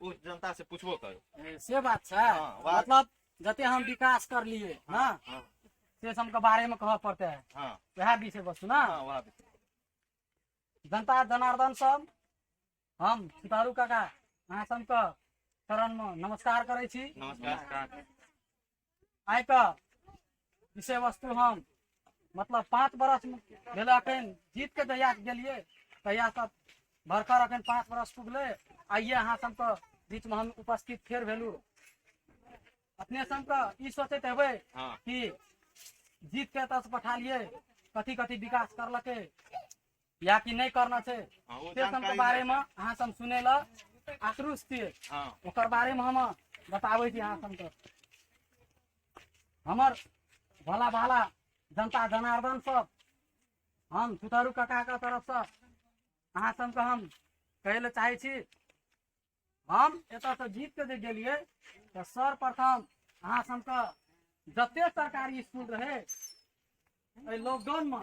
पूछ जनता से पूछबो करू ए, से बात छै हाँ, बात- मतलब जते हम विकास कर लिए ना हाँ से सब के बारे में कह पड़ते है हाँ वह विषय वस्तु ना हाँ वहाँ पे जनता जनार्दन सब हम सीतारू काका अहाँ सबके चरण में नमस्कार करै छी नमस्कार आइ कऽ विषय वस्तु हम मतलब पाँच बरस भेल अखन जीत के जहिया गेलियै तहिया सब भरकर अखन पाँच बरस पुगले आइए अहाँ सबके बीच में हम उपस्थित फेर भेलू अपने सबके ई सोचैत हेबै हाँ। कि जीत के एतऽ से पठालिए कथी कथी विकास करलकै या कि नहीं करना छै हाँ, वो से सब के जानकारी बारे में अहाँ सब सुने ला आक्रोश छियै हाँ ओकर बारे में हम बताबै छी अहाँ सबके हमर भला भाला जनता जनार्दन सब हम सुतरू कका के तरफ से अहाँ सबके हम कहै लए चाहै छी हम एतयसँ जीत कऽ जे गेलियै तऽ सर्वप्रथम अहाँ सबके जते सरकारी स्कूल रहै एहि लॉकडाउनमे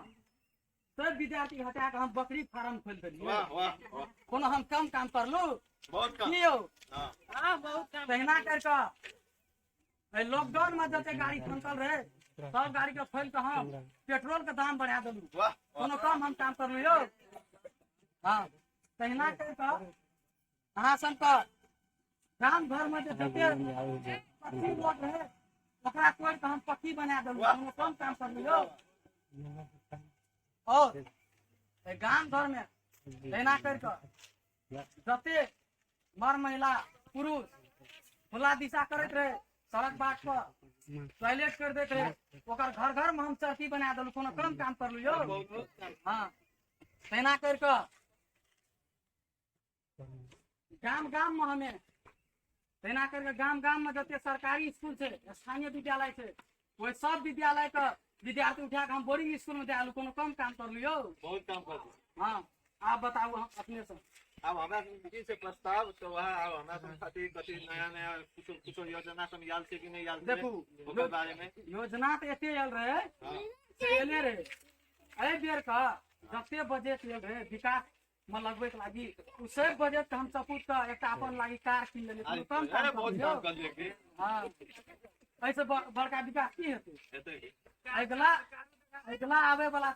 सब विद्यार्थी हटा कऽ हम बकरी फार्म खोलि देलियै वाह वाह वाह कोनो हम कम काम करलहुँ बहुत कम की यौ हाँ हाँ बहुत काम तहिना करि कऽ एहि लॉकडाउन मे जते गाड़ी फंसल रहे सब गाड़ी के खोलि कऽ हम पेट्रोल के दाम बढ़ा देलू वाह कोनो काम हम काम करलू यौ हँ तहिना करि कऽ अहाँ सब के गाम घर में जे जते पक्की रोड रहै ओकरा तोड़ के हम पक्की बना देलहुँ हम अपन काम कर लियो और ए गाम घर में एना कर के जते मर महिला पुरुष खुला दिशा करैत रहे सड़क बाट पर टॉयलेट कर देते रहे ओकर घर घर में हम चौकी बना देलहुँ कोनो कम काम कर लियो हाँ तेना कर के गाम गाम में हमें तेना करके गाम गाम में जते सरकारी स्कूल छै स्थानीय विद्यालय छै ओहि सब विद्यालय के विद्यार्थी उठा के हम बोर्डिंग स्कूल में दे आलू कोनो कम काम करलू यौ बहुत काम कर दी हाँ आप बताऊ हम अपने से अब हमरा जी से प्रस्ताव तो वह अब हमरा सब खातिर कथी नया नया कुछ कुछ योजना सब याद से कि नहीं याद से देखू ओकर बारे में योजना तो एते आयल रहे हाँ। से एले रहे एहि बेर का जते बजट आयल रहे विकास मे लगबै के लागी उ सब बजट के हम सपूत के एकटा अपन लागी कार किन लेलिए कोनो कम काम अरे बहुत समझियौ। काम कर लिया कि हाँ ऐसे ब- बड़का विकास की हेतै हेतै कि? अगिला अगिला आबे वाला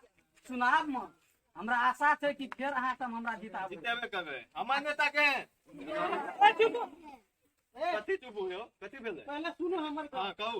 चुनाव में हमरा आशा छै कि फेर अहाँ सब हमरा जिताबू जितेबे करबै हमर नेता के कथी चुप हो कथी भेलै पहले सुनो हमर हाँ कहू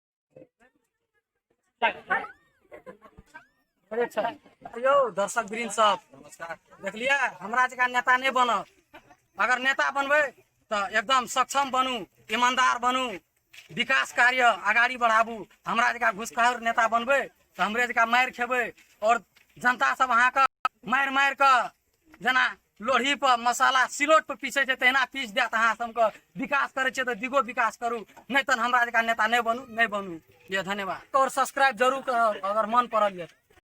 यौ दर्शक ग्रीन सब देखलियै हमरा जकाँ नेता नहि बनत अगर नेता बनबै तऽ एकदम सक्षम बनू ईमानदार बनू विकास कार्य अगाडि बढाबू हमरा जकाँ घुसखोर नेता बनबै तऽ हमरे जकाँ मारि खेबै आओर जनता सब अहाँके मारि मारि कऽ जेना लोढ़ी पर मसाला सिलोट पर पीसै छै तहिना पीस देत अहाँ सबके विकास करै छियै तऽ दिगो विकास करू नहि तहन हमरा जकाँ नेता नहि बनू नहि बनू ये धन्यवाद और सब्सक्राइब जरूर करब अगर मन पड़ल यऽ